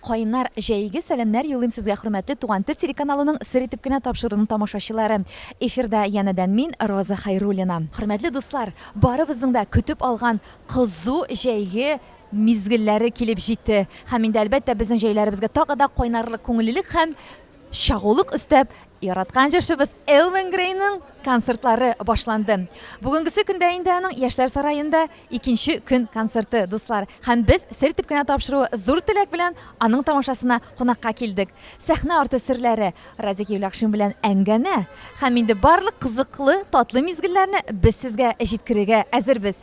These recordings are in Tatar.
Кайнар, җәйге сәламнәр юлыйм сезгә хөрмәтле Туган тел телеканалының Сер итеп кенә тапшыруның тамашачылары. Эфирда янәдән мин, Роза Хәйруллина. Хөрмәтле дуслар, барыбызның да көтеп алган кызу җәйге мизгелләре килеп җитте. Һәм инде әлбәттә безнең җәйләребезгә тагы да кайнарлык күңеллелек һәм Чагулык өстәп, яраткан җырчыбыз Элвин Грейның концертлары башланды. Бүгенгесе көндә инде аның Яшьләр сараенда икенче көн концерты, дуслар. Һәм без сер итеп кенә тапшыруы зур теләк белән аның тамашасына кунакка килдек. Сәхнә арты серләре, Разик Евлякшин белән әңгәмә һәм инде барлык кызыклы, татлы мизгелләрне без сезгә җиткерергә әзербез.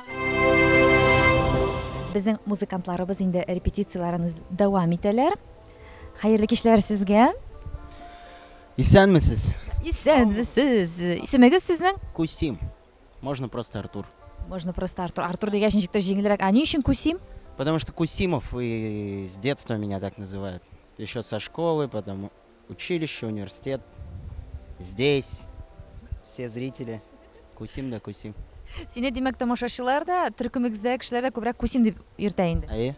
Безнең музыкантларыбыз инде репетицияләрен үз дәвам итәләр. Хәерле кичләр сезгә. Исәнмесез. Исәнмесез. Исемегез сезнең? Кусим. Можно просто Артур. Можно просто Артур. Артур дигәч ничек тә җиңелрәк. А ни өчен Кусим? Потому что Кусимов и с детства меня так называют. Еще со школы, потому Училище, университет, здесь, все зрители, күсим дә күсим. Сине, димәк, тамашачылар да, төркемегездәге кешеләр дә күбрәк күсим дип йөртә инде. Әйе.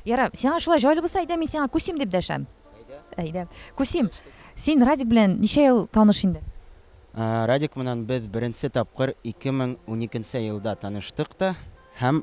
Ярар, сиңа шулай җайлы булса, әйдә мин сиңа күсим дип дәшәм. Әйдә. Күсим, син Радик белән ничә ел таныш инде? Ә, Радик менән без беренче тапкыр 2012 елда таныштык та һәм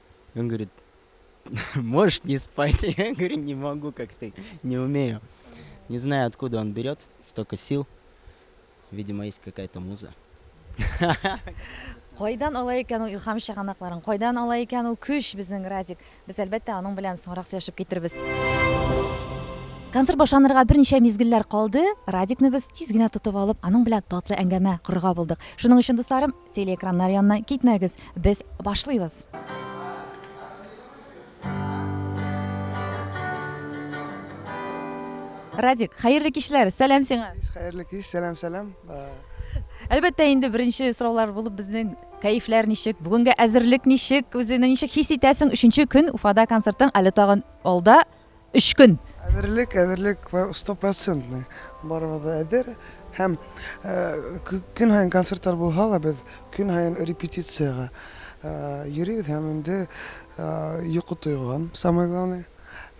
Он говорит, можешь не спать? Я говорю, не могу, как ты, не умею. Не знаю, откуда он берет столько сил. Видимо, есть какая-то муза. Кайдан ала икән ул илһам чыганакларын? Кайдан ала икән ул көч безнең Радик? Без әлбәттә аның белән соңрак сөйләшеп китербез. Концерт башланырга берничә мизгелләр калды. Радикны без тиз генә тотып алып, аның белән татлы әңгәмә корырга булдык. Шуның өчен, дусларым, Телеэкраннар янына китмәгез, без башлыйбыз! Радик, хәерле кичләр! Сәлам сиңа! Хәерле кич, сәлам, сәлам! Әлбәттә инде беренче сораулар булып безнең кәефләр ничек, бүгенге әзерлек ничек, үзеңне ничек хис итәсең? Өченче көн Уфада концертың, әле тагын алда өч көн. Әзерлек, әзерлек стопроцентный. Барыбыз да әзер. Һәм көн һаен концертлар булһа да, без көн һаен репетициягә йөрибез һәм инде йокы тойган, самое главное,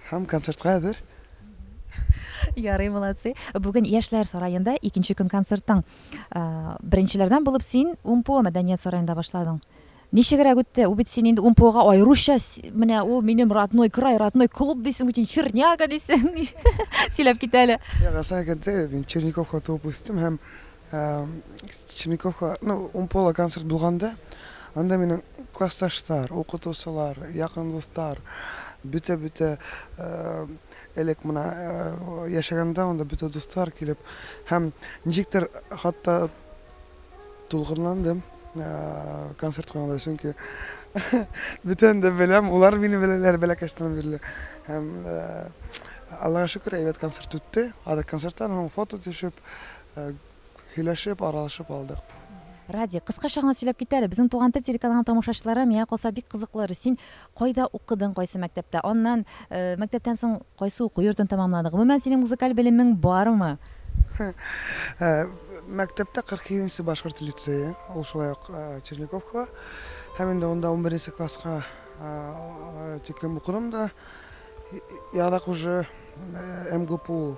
һәм концертка әзер. Ярый, молодцы. Бүген Яшьләр сараенда икенче көн концертың. Беренчеләрдән булып син Умпуа мәдәният сараенда башладың. Ничегрәк үтте, ул бит син инде УМПОга аеруча, менә ул минем родной край, родной клуб дисең бит, син Черняга дисең, сөйләп китә әле. Юк, рас әйтәдә, мин Черниковка туып үстем һәм Черниковка, ну, УМПОла концерт булганда, анда минем классташлар, укытучылар, якын дуслар, бөтә-бөтә элек менә яшәгәндә анда бөтә дуслар килеп һәм ничектер хатта Дулкынландым концерт куйганда, чөнки бөтен дә беләм, улар мине беләләр бәләкәчтән бирле. Һәм Аллага шөкер, әйбәт концерт үтте. Ада концерттан һәм фото төшеп, һөйләшеп, аралашып алдык. Радик, кыскача гына сөйләп кит әле, безнең Туган тел телеканалының тамашачылары миңа калса бик кызыклы, син Кайда укыдың, кайсы мәктәптә? Аннан, мәктәптән соң кайсы уку йортын тәмамладың? Гомумән, синең музыкаль белемең бармы? Мәктәптә 47 нче башкорт лицее, ул шулай ук Черниковкала. Һәм инде анда унберенче класска тиклем укыдым да. Яңадан уже МГПУ.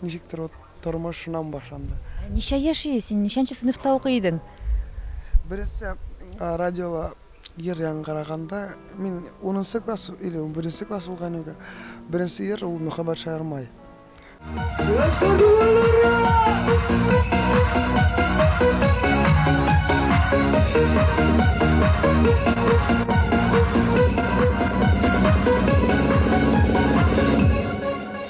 Ничектер вот тормыш шуннан башланды. Ничә яши, син ничәнче сыйныфта укый идең? Беренче радиола җыр яңгыраганда, мин унынчы класс или унберенче класс булган идем. Беренче җыр ул Мөхәббәт шаяр май.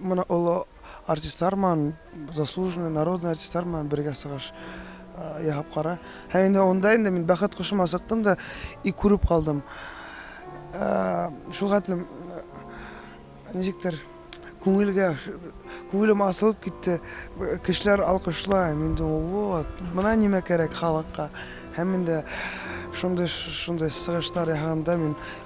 Менә олы артистлар ман, заслуженный, народный артистлар ман бергә сыгыш яһап кара. Һәм инде онда инде мин бәхет кошыма сыктым да и күреп калдым. Шул хәтлем ничектер күңелгә күңелем асылып китте. Кешеләр алкышлай, мин дә вот, менә нимә кирәк халыкка. Һәм инде шундый шундый сыгышлар яһаганда мин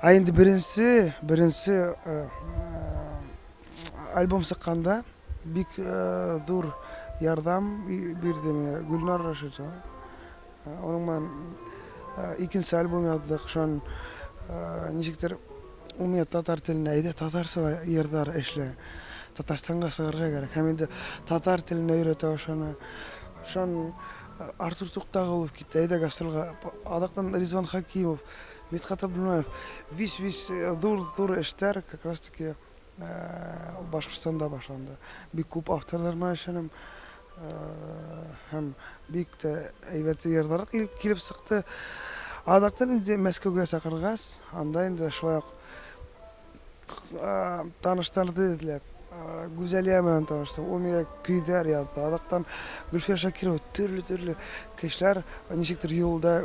Ә инде беренче, беренче э, э, альбом чыкканда бик э, зур ярдәм бирде миңа Гөлнар Рашитова. Аның мен икенче альбом яздык, шон ничектер ул миңа татар телендә әйдә татарча йырлар эшлә, Татарстанга чыгарга кирәк һәм инде татар телен өйрәтә ошаны. Шон Артур Туктагулов китте, әйдә гастрольгә. Адактан Ризван Хакимов, Мидхат Абдуллаев, вич-вич зур-зур эштәр как раз таки Башкортстанда башланды. Бик күп авторлар белән эшләдем. Һәм бик тә әйбәт җырлар килеп чыкты. Адактан инде Мәскәүгә чакыргач, анда инде шулай ук таныштырды эзләп. Гүзәлия белән таныштым. Ул миңа көйләр язды. Адактан Гөлфия Шакирова, төрле-төрле кешеләр ничектер юлда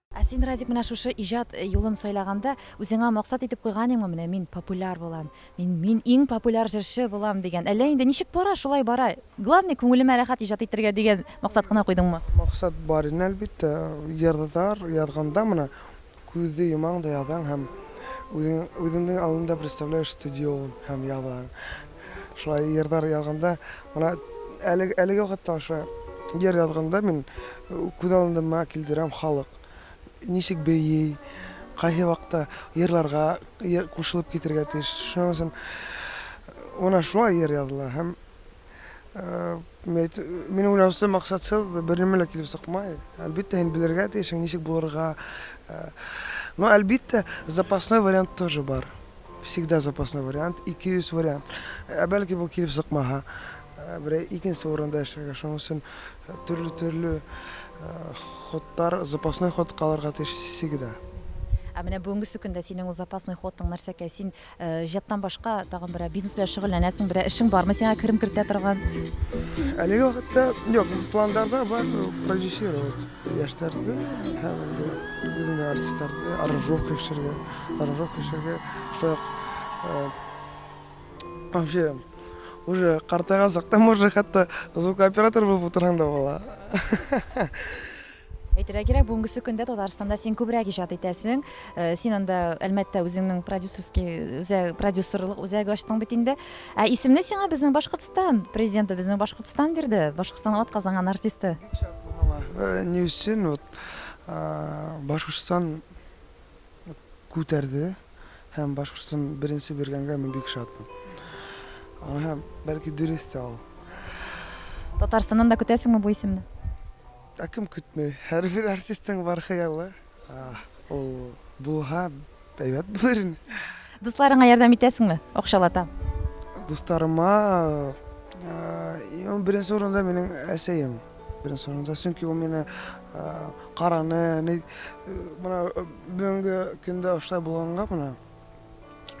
Ә син, Радик, менә шушы иҗат юлын сайлаганда, үзеңә максат итеп куйганиңмы, менә мин популяр булам, мин, мин иң популяр җырчы булам дигән, әллә инде ничек бара, шулай бара, главный, күңелемә рәхәт иҗат итәргә дигән максат кына куйдыңмы? Максат бар иде, әлбиттә. Җырлар язганда менә күзне йомаң да язаң һәм үзең, үзеңнең алдында представляешь стадион һәм язаң. Шулай йырлар язганда, менә әлеге, әлеге вакытта ошо йыр язганда мин күз алдыма килдерәм халык ничек бии, кайсы вакытта йырларга йыр кушылып китергә тиеш. Шуның өчен менә шулай йыр языла һәм мед, мин уйлаучы максатсыз бернеме лә килеп сыкмый. Әлбиттә, һин белергә тиешең, ничек булырга. Но әлбиттә, запасной вариант тоже бар. Всегда запасной вариант, 200 вариант. Ә бәлки бу килеп сыкмаһа, берәй икенче урында эшләргә. Шуның өчен төрле-төрле ходтар, запасной ход калырга тиеш всегда. Ә менә бүгенгесе көндә синең ул запасный ходың нәрсәкәй? Син иҗаттан башка тагын берәр бизнес белән шөгыльләнәсең, берәр эшең бармы сиңа керем кертә торган? Әлеге вакытта юк, планнарда бар продюсировать. Яшьтәрдә һәм инде үзенә артистларда аранжировка эшләргә, аранжировка эшләргә шук вообще уже картайган сакта может хәтта звукооператор булып утырсаң да була. Әйтергә кирәк, бүгенгесе көндә Татарстанда син күбрәк иҗат итәсең. Син анда Әлмәттә үзеңнең продюсерский үзәк продюсерлык үзәге ачтың бит инде. Ә исемне сиңа безнең Башкортстан президенты, безнең Башкортстан бирде. Башкортстан атказанган артисты. Бик шатмын моңа. Ни өчен вот Башкортстан күтәрде һәм Башкортстан беренче биргәнгә мин бик шатмын. Һәм бәлки дөрес тә ул. Татарстаннан да көтәсеңме бу исемне? Ә кем көтми? Һәрбер артистның бар хыялы. Ул булга әйбәт булыр инде. Дусларыңа ярдәм итәсеңме? Акчалата. Дусларыма ул беренче урында минем әсәем. Беренче урында, чөнки ул мине караны, ни менә бүгенге көндә ошта булганга менә.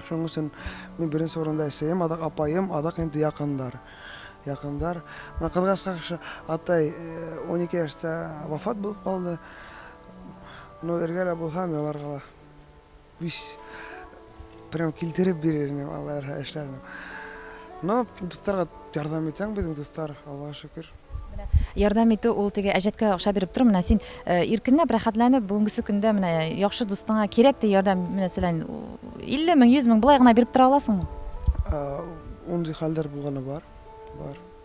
Шуның өчен мин беренче урында әсәем, адак апаем, адак инде якындар. Якындар. Менә кызгашка атай 12 яшьтә вафат булып калды. Ну эргә дә булһам яларга да биш прям килтереп бирер инем алла ярха эшләрне но дусларга ярдәм итәм безнең дуслар аллага шөкер Ярдәм итү ул теге әҗәткә акча биреп тору менә син э, иркенләп рәхәтләнеп бүгенгесе көндә менә яхшы дустыңа кирәк ди ярдәм менә сәлән 50 мең 100 мең болай гына биреп тора аласыңмы? Ундый хәлләр булганы бар. Бар.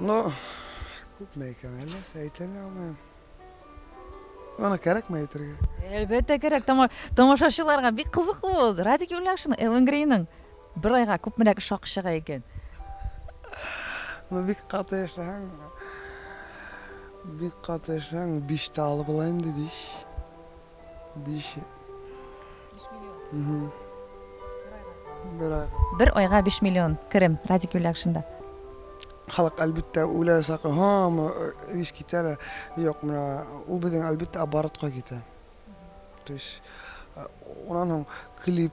Ну, күпме икән әле, әйтә алмыйм. Аны кәрәкме әйтергә? Әлбәттә кәрәк, тамашачыларга бик кызыклы ул. Радик Юлякшин, Элвин Грейның бер айга күпмерәк эш хакы чыга икән? Ну, бик каты эшләһәң, бик каты эшләһәң, биш тә алып була инде, биш. Биш. Биш миллион. Бер ай. Бер айга биш миллион керем Радик Юлякшинда. Халык әлбәттә үлә сакы, һамы ис китә лә. Юк, менә ул безнең әлбәттә оборотка китә. То есть, унан клип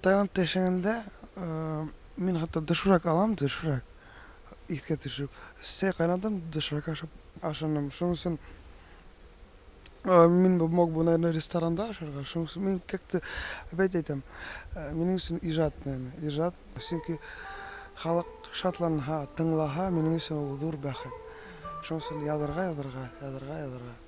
Таиландта яшәгәндә, мин хәтта доширак алам, доширак, искә төшереп. Чәй кайнатам, доширак ашап ашыйм. Шуның өчен мин бу мог бы, наверное, ресторанда ашарга. Шуның өчен мин как-то опять әйтәм, минем өчен иҗат, наверное, иҗат. Чөнки халык шатланһа, тыңлаһа, минем өчен ул зур бәхет. Шуның өчен язарга, язарга, язарга, язарга.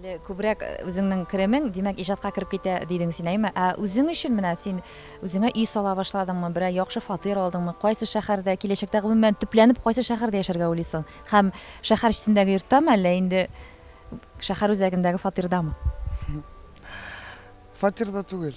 Әле күбрәк э, үзеңнең керемең, димәк, иҗатка кереп китә дидең син, әйме? Ә үзең өчен менә син үзеңә өй сала башладыңмы, берәр яхшы фатир алдыңмы, кайсы шәһәрдә, киләчәктә гомумән төпләнеп кайсы шәһәрдә яшәргә уйлыйсың? Һәм шәһәр читендәге йорттамы, әллә инде шәһәр үзәгендәге фатирдамы? Фатирда түгел.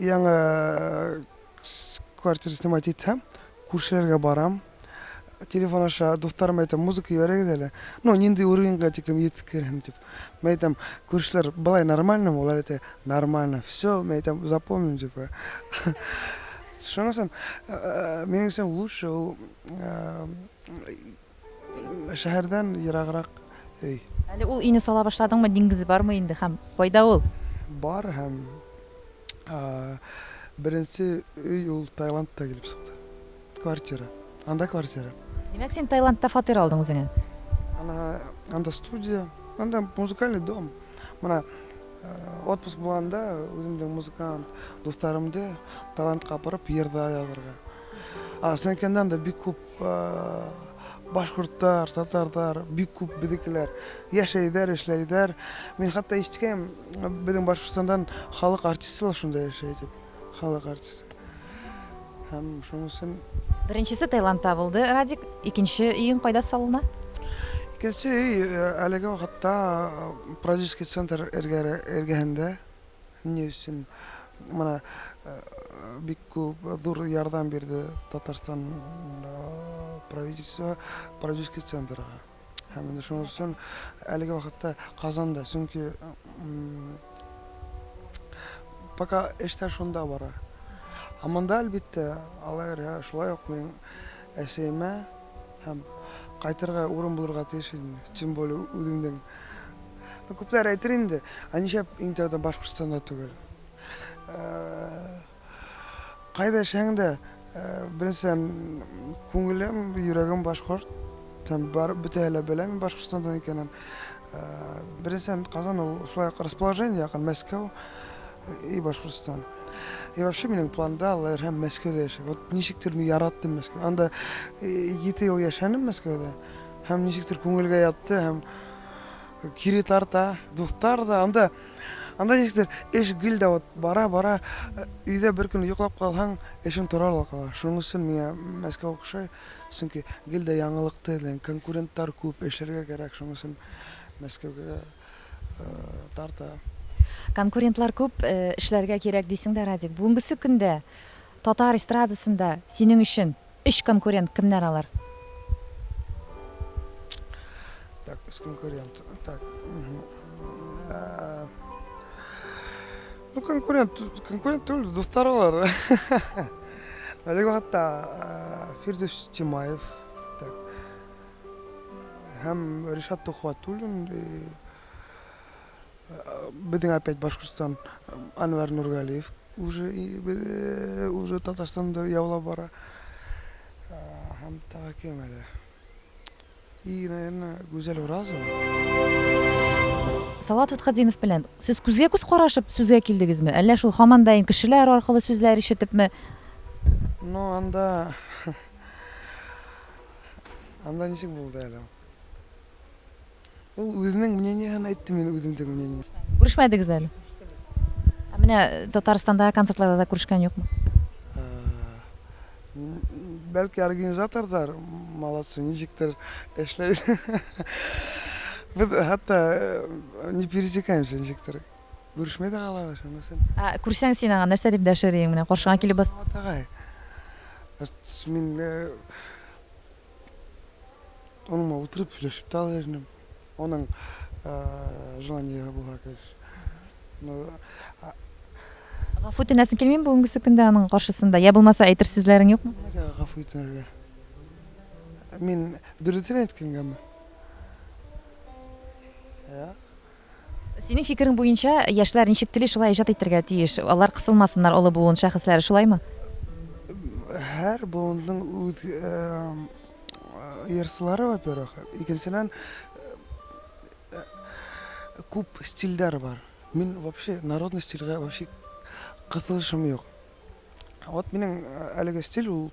Яңа квартира снимать итсәм, күршеләргә барам. Телефон аша дусларыма әйтәм, музыка җибәрегез әле. Ну, нинди уровеньга тиклем җиткерәм дип. Мин әйтәм, күршеләр былай нормально, алар әйтә, нормально. Все, мин әйтәм, запомним дип. Шунысын, минем өчен лучше ул Шәһәрдән ераграк өй. Әле ул өйне сала башладыңмы, диңгез бармы инде һәм кайда ул? Бар һәм беренче өй ул Таиландта килеп чыкты. Квартира. Анда квартира. Димәк, син Таиландта фатир алдың үзеңә? Ана, анда студия, анда музыкальный дом. Менә отпуск булганда үземнең музыкант дусларымды Таиландка апарып йырда язарга. А, Сенкеннан да бик күп Башкорттар, татарлар бик күп безнекеләр яшәйдәр, эшләйдәр. Мин хәтта ишеткән, безнең Башкортстандан халык артистлар шунда яшәй дип. Халык артисты. Һәм шунысын Беренчесе Таиландта булды, Радик. Икенче өең кайда салына? Икенче өй әлеге вакытта продюсерский центр эргәһендә. Ни өчен менә бик күп зур ярдәм бирде Татарстан правительство продюсерский центрга. Һәм инде шуның өчен әлеге вакытта Казанда, чөнки пока эштә шунда бара. Ә монда, әлбиттә, алар шулай ук мин әсәймә. Һәм кайтырга урын булырга тиеш инде, тем более үзеңнең. Ну, күпләр әйтер инде, ә нишләп иң тәүдә Башкортстанда түгел? Кайда яшәһәң дә, беренчедән, күңелем, йөрәгем башкорт. Һәм бар бөтәһе лә белә мин Башкортстандан икәнен. Беренчедән, Казан ул шулай ук расположение якын, Мәскәү. И Башкортостан. И вообще минем планда Алла ирһәм Мәскәүдә яшәү. Вот ничектер мин яраттым Мәскәү. Анда 7 ел яшәнем Мәскәүдә. Һәм ничектер күңелгә ятты һәм кире тарта, дуслар да анда анда ничектер эш гел дә вот бара-бара өйдә бер көн йоклап калһаң, эшең тора ла кала. Шуның өчен миңа Мәскәү охшай, чөнки гел дә яңалыкты, конкурентлар күп, эшләргә кирәк, шуның өчен Мәскәүгә тарта. Конкурентлар күп, эшләргә кирәк дисең дә, Радик. Бүгенгесе көндә татар эстрадасында синең өчен өч конкурент кемнәр алар? Так, өч конкурент. Так. Ну, конкурент, конкурент түгел, дуслар алар. Әлеге вакытта Фирдүс Тимаев, Һәм Ришат Төхвәтуллин безнең опять Башкортстан Анвар Нургалиев уже уже Татарстанды яулап бара. Һәм тагы кем әле? И, наверное, Гүзәл Уразова. Салават Фәтхетдинов белән сез күзгә күз карашып сүзгә килдегезме? Әллә шул һаман да инде кешеләр аркылы сүзләр ишетепме? Ну, анда Анда ничек булды әле ул? Ул үзенең мнениеһен әйтте, мин үземдең мнение. Күрешмәдегез әле? Ә менә Татарстанда концертларда да күрешкән юкмы? Бәлки организаторлар молодцы, ничектер эшләй. Без хәтта не пересекаемся ничектер. Күрешмә дә калабыз, шунысын. Ә күрсәң син аңа, нәрсә дип дәшер идең? Менә каршыңа килеп бас. Салават агай, мин оныңа утырып сөйләшеп тә алыр идем. Аның желаниеһы булһа, конечно. Гафу үтенәсең килмиме бүгенгесе көндә аның каршысында? Я булмаса, әйтер сүзләрең юкмы? Нигә гафу үтенергә? Мин дөресен әйткәнгәме? Юк. Синең фикерең буенча, яшьләр ничек тели, шулай иҗат итәргә тиеш. Алар кысылмасыннар олы буын шәхесләре, шулаймы? Һәр буынның үз ырсылары, во-первых. Икенчедән, күп стильләр бар. Мин вообще народный стильгә вообще кысылышым юк. Вот минем әлеге стиль ул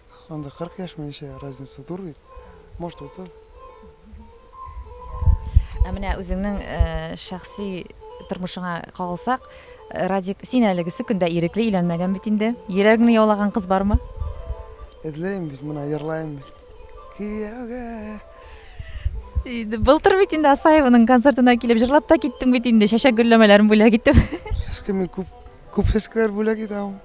Анда 40 яшь минемчә разница зур бит. Может 30. Ә менә үзеңнең шәхси тормышыңа кагылсак, Радик, син әлегесе көндә ирекле өйләнмәгән бит инде. Йөрәгеңне яулаган кыз бармы? Эзләйм бит, менә йырлаем бит. Кияүгә Инде былтыр бит инде Асаеваның концертына килеп җырлап та киттең бит инде, чәчәк гөлләмәләрен бүләк итеп. Сәскә мин күп күп сәскәләр бүләк итәм.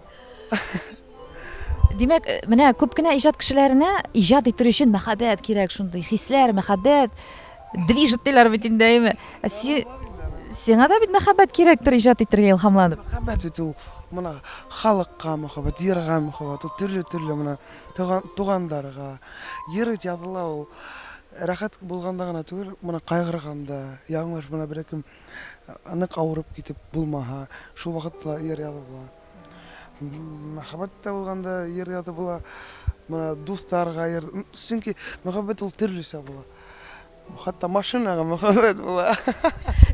Димәк, э, менә күп кенә иҗат кешеләренә иҗат итер өчен мәхәббәт кирәк, шундый хисләр, мәхәббәт движет диләр бит инде, әйме? Ә си- Сиңа да бит мәхәббәт кирәктер иҗат итәргә илһамланып. Мәхәббәт бит ул менә халыкка мәхәббәт, җырга мәхәббәт, ул төрле-төрле менә туган, туганнарга. Җыр бит языла ул рәхәт булганда гына түгел, менә кайгырганда, яңгыр менә берәкем э, нык авырып китеп булмаһа, шул вакытта җыр язып була. Мәхәббәт тә булганда йөргә дә була. Менә дусларга йөр. Чөнки мәхәббәт ул төрлесә була. Хәтта машинага мәхәббәт була.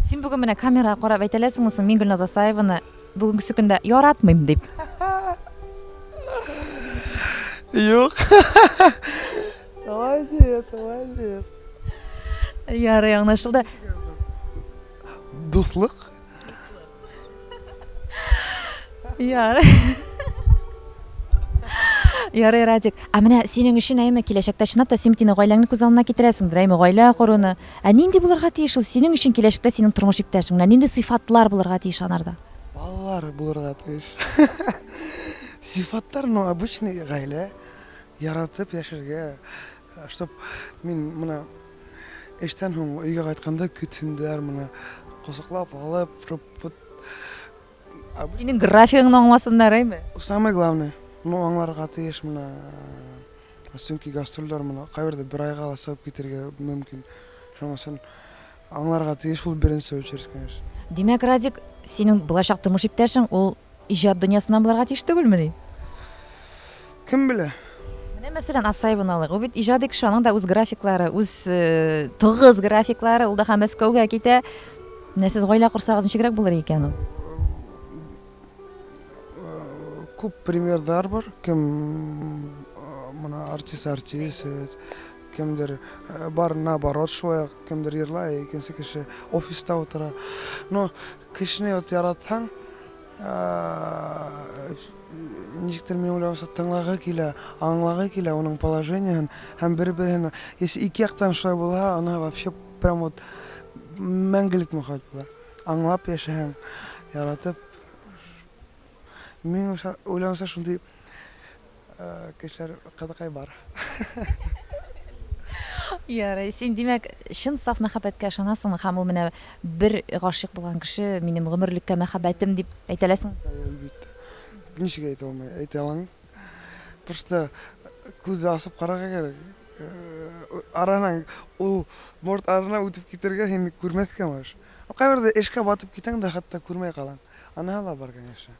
Син бүген менә камерага карап әйтә аласыңмы соң, мин Гөлназ Асаеваны бүгенгесе көндә яратмыйм дип? Юк. Молодец, молодец. Ярый, аңлашылды. Дуслык Ярый. Ярый, Радик. Ә менә синең өчен әйме киләчәктә чынлап та син тине гаиләңне күз алдына китерәсеңдер, әйме гаилә коруны. Ә нинди булырга тиеш ул синең өчен киләчәктә синең тормыш иптәшең? Менә нинди сыйфатлар булырга тиеш анарда? Балалар булырга тиеш. Сыйфатлар, ну, обычный гаилә, яратып яшәргә, Чтоб мин моны эштән һуң өйгә кайтканда көтсеннәр моны, косыклап алып, руппут. Синең графигыңны аңласыннар әйме? Самое главное, ну аңларга тиеш моны, чөнки гастрольләр моны кайбердә бер айга да сыгып китәргә мөмкин. Шуның өчен Аңларга тиеш ул беренче очередь, конечно. Димәк, Радик, синең булачак тормыш иптәшең ул иҗат дөньясыннан булырга тиеш түгелмени? Кем белә? Менә мәсәлән, Асаеваны алыйк. Ул бит иҗади кеше, аның да үз графиклары, үз э, тыгыз графиклары, ул да һәм Мәскәүгә китә. Менә сез гаилә корсагыз ничегрәк булыр икән ул? Күп примерлар бар, кем э, мына артист артист, э, Кемдер бар наоборот шулай ук, кемдер ерлай, икенче кеше офиста утыра. Но кешене вот яратсаң, ничектер мин уйламаса тыңлагы килә, аңлагы килә уның положениен һәм бер-берен, если ике яктан шулай булса, аны вообще прям вот мәңгелек мөхәббәт була. Аңлап яшәһәң, яратып. Мин уйламаса шундый Кешеләр кызыкай бар. Ярый, син димәк, чын саф мәхәббәткә ышанасыңмы һәм ул менә бер гашыйк булган кеше минем гомерлек мәхәббәтем дип әйтә аласың? Әлбәттә. Ничек әйтә алмый, әйтә алам. Просто күзне ачып карарга кирәк. Араны ул борт арына үтеп китәргә һәм күрмәскә мөш. Кайбердә эшкә батып китәң дә хәтта күрмәй калаң. Анаһы да бар, конечно.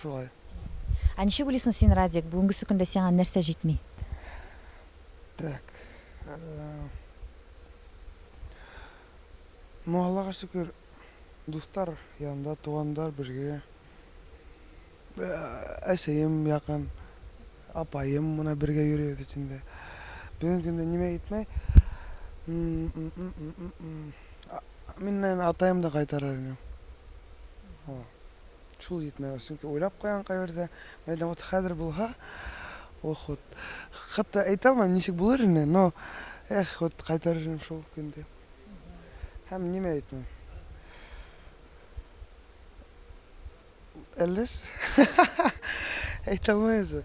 Шулай. Ә ничек уйлыйсың син, Радик, бүгенгесе көндә сиңа нәрсә җитми? Так. Ну, Аллага шөкер, дуслар янында, туганнар бергә. Әсәем якын, апаем менә бергә йөрибез бит инде. Бүгенге көндә нимә җитми? Мин, наверное, атаем да кайтарыр идем. Шул җитмәве, чөнки уйлап куйган кайбердә, әнә вот хәзер булһа, ох вот, хәтта әйтә алмыйм, ничек булыр ине, но эх, вот кайтарыр идем шул көнде. Һәм нимә әйтмәү? Әллә сез? Әйтә алмыйм сез.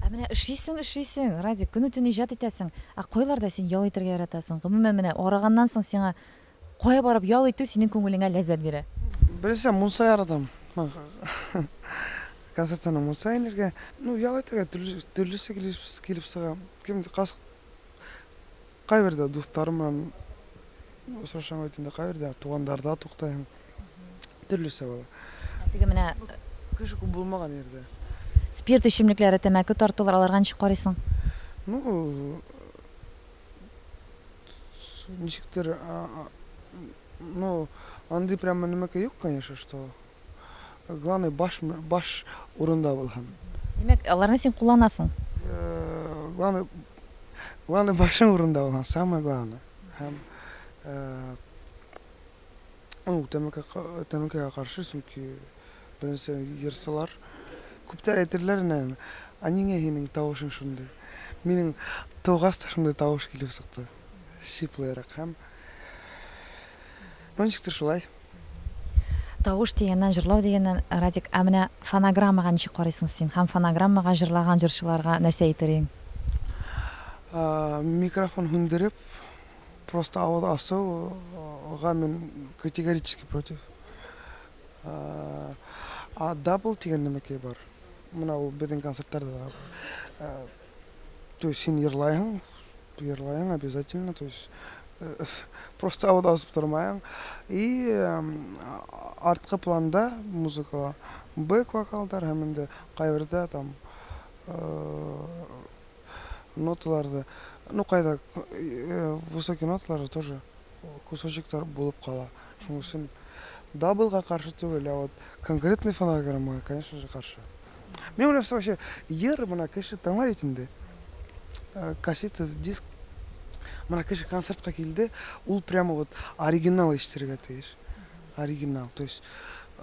Ә менә эшлисең, эшлисең, Радик, көне-төне иҗат итәсең, ә кайларда син ял итәргә яратасың? Гомумән, менә арыганнан соң сиңа Кая барып ял итү синең күңелеңә ләззәт бирә? Беләсең, мунса яратам. Концертларның мунса инергә. Ну, ял итәргә төрлесе килеп чыга. Кем каз кайбер дә дусларым белән очрашам бит инде, кайбер дә тугандарда туктыйм. Төрлесе була. Ә теге менә Кеше күп булмаган йирдә. Спирт эчемлекләре, тәмәке тартулар, аларга ничек карыйсың? Ну, ничектер ну андый прямо нәмәкәй юк конечно что главный баш баш урында булһын димәк аларны син кулланасың главный главный башың урында булһын самое главное һәм Ул тәмәке тәмәкегә каршы, чөнки беренче ерсылар. Күптәр әйтерләр инде, ә нигә синең тавышың шундый? Минем тугач та шундый тавыш килеп чыкты, сиплерәк һәм ну ничектер шулай. Тавыш дигәннән, җырлау дигәннән, Радик, ә менә фонограммага ничек карыйсың син һәм фонограммага җырлаган җырчыларга нәрсә әйтер идең? Микрофон һүндереп, Просто авыз асыл га мин категорически против. А дабл дигән нәмәкәй бар. Менә ул безнең концертларда да. То есть син ерлайһың, ерлайһың обязательно, то есть просто авыз асып тормаең. И арткы планда музыкала бэк вокалдар һәм инде кайбердә там Ноталар да, ну кайда высокий ноталар тоже кусочектар булып кала. Шуның өчен даблга каршы түгел, а вот конкретный фонограмма, конечно же, каршы. Мин уйлап вообще ер мына кеше тыңлай бит инде. Э, кассета, диск. Мына кеше концертка килде, ул прямо вот оригинал ишетергә тиеш. Оригинал, то есть э,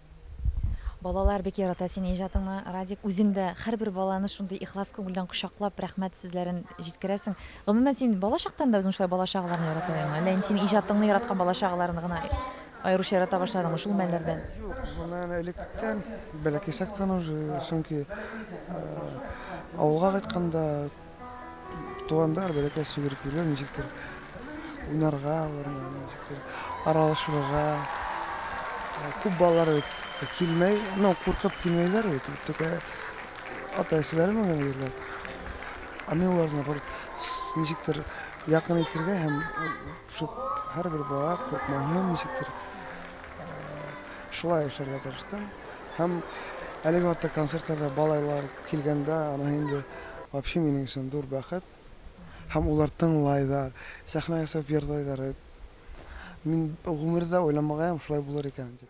Балалар бик ярата синең иҗатыңны, Радик. Үзең дә һәрбер баланы шундый ихлас күңелдән кочаклап, рәхмәт сүзләрен җиткерәсең. Гомумән, син бала чактан да үзең шулай бала чагаларны ярата идеңме? Әллә инде синең иҗатыңны яраткан бала чагаларны гына аеруча ярата башладыңмы шул мәлләрдән? Юк, гомумән, электән, бәләкәй чактан уже, чөнки авылга кайтканда, Тугандар, бәләкәй сөгеркүләр ничектер уйнарга, ничектер аралашырга. Күп балалар бит килмәй, ну, куркып килмәйләр бит. Только ата-әсәләре менә йөриләр. Ә мин аларны бер ничектер якын итәргә һәм шул һәрбер бала куркмаһын ничектер шулай эшләргә тырыштым. Һәм әлеге вакытта концертларда балалар килгәндә, аны инде вообще минем өчен зур бәхет. Һәм улар тыңлайлар, сәхнәгә чыгып җырлайлар. Мин гомердә уйламагаем шулай булыр икәнен дип.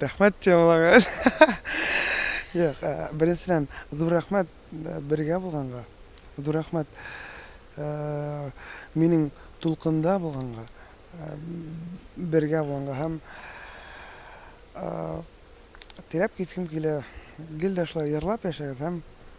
Рәхмәт темаларга. Юк, э, беренчедән, зур рәхмәт э, бергә булганга. Зур рәхмәт э, минем тулкында булганга, э, бергә булганга һәм э, теләп киткем килә. Гел дә шулай ярлап яшәгез һәм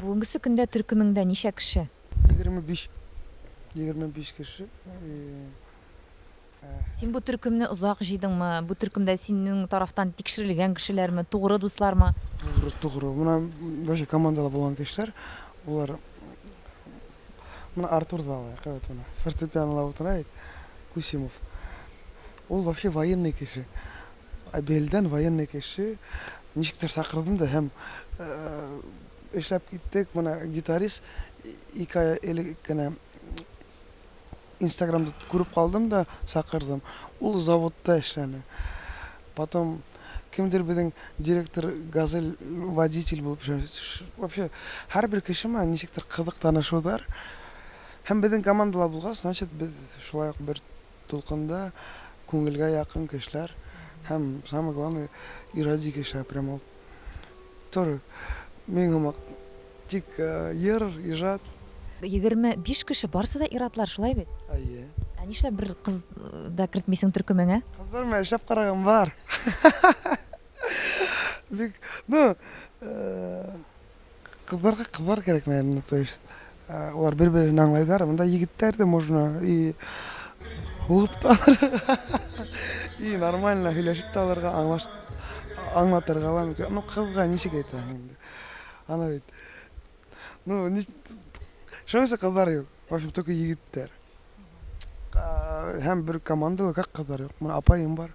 Бүгенгесе көндә төркемеңдә ничә кеше? Егерме биш. Егерме биш кеше. Син бу төркемне озак җыйдыңмы? Бу төркемдә синең тарафтан тикшерелгән кешеләрме, тугры дуслармы? Тугры, тугры. Менә башка командада булган кешеләр, алар Менә Артур да алай, кәвәт менә. Фортепианода утыра бит. Кусимов. Ул вообще военный кеше. Абельдән военный кеше ничектер сакырдым да һәм эшләп киттек. Менә гитарист ике ай элек кенә Инстаграмда күреп калдым да сакырдым. Ул заводта эшләне. Потом кемдер безнең директор Газель водитель булып эшләде. Вообще, һәрбер кеше миңа ничектер кызык танышудар. Һәм безнең командалар булгач, значит, без шулай ук бер Дулкында күңелгә якын кешеләр һәм самый главный ироди кешеләр прям ул тоже мин һымак тик йыр ижат. Егерме биш кеше барсы да ирадлар шулай бит? Әйе. Ә нишләп бер кыз да кертмисең төркемеңә? Кызлар белән эшләп караган бар. Бик ну Кызларга кызлар кирәк, наверное, то есть алар бер-берен аңлайлар. Монда егетләр дә можно и булып та и нормально һөйләшеп тә алырга, аңлаш аңлатырга ла мөмкин. Ну, кызга ничек әйтәсең инде? Ана бит. Ну, ни Шуның кызлар юк. В общем, только егетләр. Һәм бер командалы, как кызлар юк? Менә апаем бар.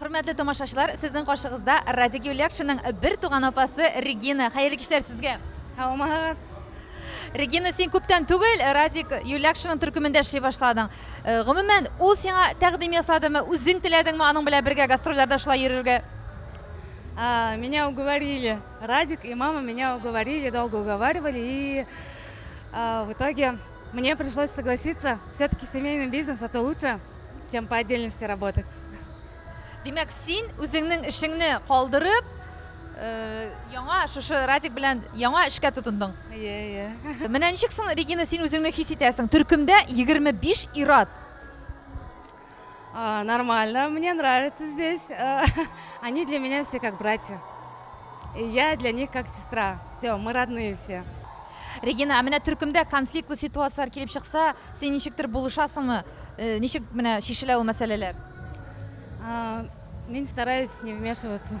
Хөрмәтле тамашачылар, сезнең каршыгызда Радик Юлякшинның бер туган апасы Регина. Хәерле кичләр сезгә. Һаумагыз. Регина, син күптән түгел Радик Юлякшинның төркемендә эшли башладың. Э, гомумән, ул сиңа тәкъдим ясадымы, үзең теләдеңме аның белән бергә гастрольләрдә шулай йөрергә? А, меня уговорили. Радик и мама меня уговорили, долго уговаривали. И а, в итоге Мне пришлось согласиться, все-таки семейный бизнес это лучше, чем по отдельности работать. Димәк, син үзеңнең эшеңне калдырып, яңа шушы Радик белән яңа эшкә тотындың. Ие, ие. Менә ничек соң, Регина, син үзеңне хис итәсең? Төркемдә 25 ир-ат. А, нормально, мне нравится здесь. А, они для меня все как братья. И я для них как сестра. Все, мы родные все. Регина, а менә төркемдә конфликтлы ситуацияләр килеп чыкса, син ничектер булышасыңмы? Э, ничек менә шешелә ул мәсьәләләр? А, мин стараюсь не вмешиваться.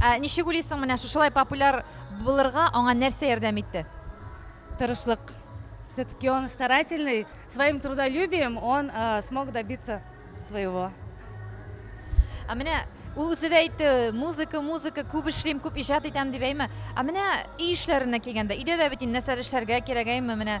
Ә ничек уйлыйсың, менә шушылай популяр булырга аңа нәрсә ярдәм итте? Тырышлык. Все-таки он старательный, своим трудолюбием он смог добиться своего. Ә менә ул үзе дә әйтте, музыка, музыка, күп эшлим, күп иҗат итәм дип әйме. Ә менә өй эшләренә килгәндә, өйдә дә бит инде нәрсәдер эшләргә кирәк әйме, менә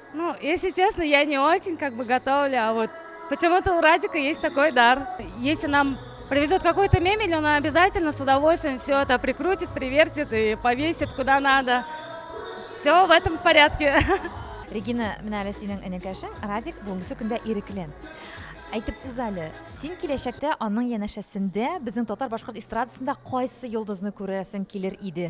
Ну, если честно, я не очень как бы готовлю, а вот почему-то у Радика есть такой дар. Если нам привезут какую-то мебель, он обязательно с удовольствием все это прикрутит, привертит и повесит куда надо. Все в этом порядке. Регина, менә әле синең энекәшең Радик бүгенге көндә ирекле. Әйтеп үз әле, син киләчәктә аның янәшәсендә безнең татар-башкорт эстрадасында кайсы йолдызны күрәсең килер иде?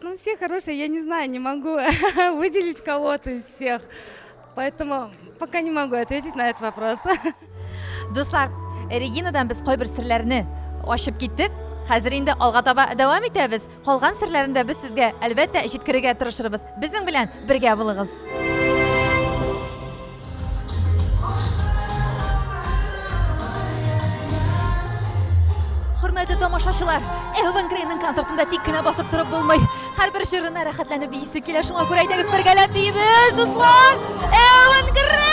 Ну, все хорошие, я не знаю, не могу выделить кого-то из всех. Поэтому пока не могу ответить на этот вопрос. Дуслар, Регинадан без кайбер серләрне ачып киттек. Хәзер инде алга таба дәвам итәбез. Калган серләрне дә без сезгә әлбәттә җиткерергә тырышырбыз. Безнең белән бергә булыгыз. Хөрмәтле тамашачылар, Элвин Грейның концертында тик кенә басып торып булмый. Һәрбер җырына рәхәтләнеп бийсе килә, шуңа күрә әйдәгез бергәләп биебез, дуслар! Элвин Грей!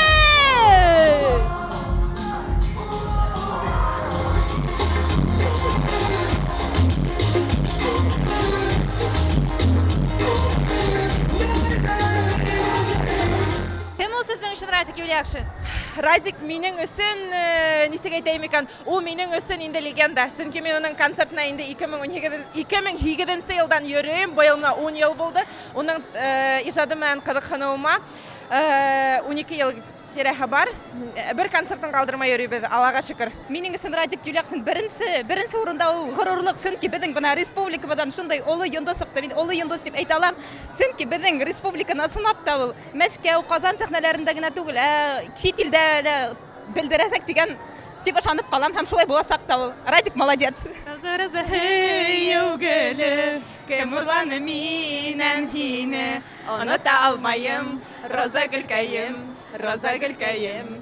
Кем ул сезнең өчен Радик Юльякшин? Радик минең өчен, ничек әйтәем икән, ул минең өчен инде легенда. Чөнки мин аның концертына инде 2008 елдан йөрим, быел менә 10 ел булды. Аның иҗаты белән кызыксынуыма 12 ел тирәһе бар. Бер концертын калдырмай йөрибез, Аллага шөкер. Минең өчен Радик Юльякшин беренче, беренче урында ул горурлык, чөнки безнең менә республикабыздан шундый олы йолдыз чыкты. Мин олы йолдыз дип әйтә алам, чөнки безнең республиканы сынап та ул. Мәскәү, Казан сәхнәләрендә генә түгел, ә чит илдә дә белдерәсәк дигән, дип ышанып калам һәм шулай булачак та ул. Радик молодец! Роза, роза, һөю гөле, Кем урланы миннән һине? Оныта алмаем, роза гөлкәем, роза гөлкәем.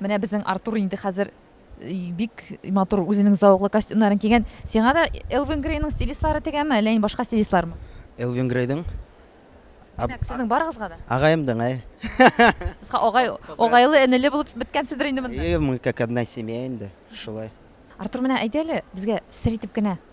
Менә безнең Артур инде хәзер бик матур үзенең зауыклы костюмнарын кигән. Сиңа да Элвин Грейның стилистлары тегәме, әллә инде башка стилистлармы? Элвин Грейдың. Димәк, сезнең барыгызга да? Агаемдың, әй. Сез агай, агайлы, энеле булып беткәнсездер инде монда. Әйе, мы как одна семья инде, шулай. Артур, менә әйдә әле, безгә сер итеп кенә.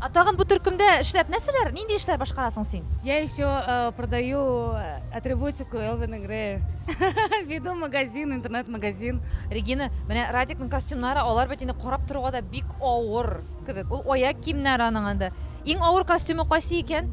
Ә тагын бу төркемдә эшләп нәрсәләр, нинди эшләр башкарасың син? Я еще э, продаю э, атрибутику Элвин Грея. Веду магазин, интернет-магазин. Регина, менә Радикның костюмнары, алар бит инде карап торуга да бик авыр кебек. Ул аяк киемнәре аның анда. Иң авыр костюмы кайсы икән?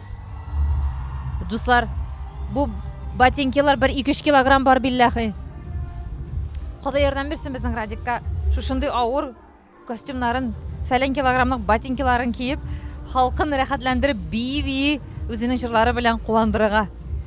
Дуслар, бу ботинкилар бер 2-3 килограмм бар билләхи. Ходай ярдәм бирсен безнең Радикка. Шушындый авыр костюмнарын, фәлән килограммлык ботинкиларын киеп, халкын рәхәтләндереп, бии-бии, үзенең җырлары белән куандырырга.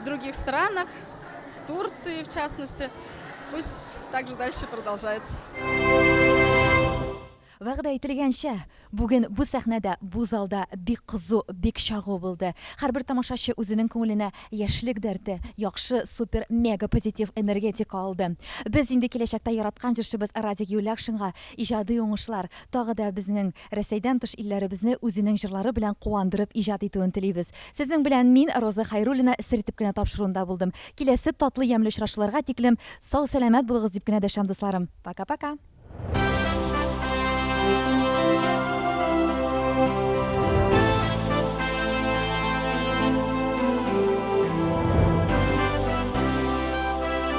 в других странах, в Турции, в частности. Пусть так же дальше продолжается. Вәгъдә ителгәнчә, бүген бу сәхнәдә, бу залда бик кызу, бик чагу булды. Һәрбер тамашачы үзенең күңеленә яшьлек дәрте, яхшы, супер, мега позитив энергетика алды. Без инде киләчәктә яраткан җырчыбыз Радик Юлякшинга иҗади уңышлар, тагы да безнең Рәсәйдән тыш илләребезне үзенең җырлары белән куандырып иҗат итүен телибез. Сезнең белән мин Роза Хәйруллина сер итеп кенә тапшыруында булдым. Киләсе татлы ямьле очрашуларга тиклем сау сәламәт булыгыз дип кенә дәшәм дусларым. Пока пока.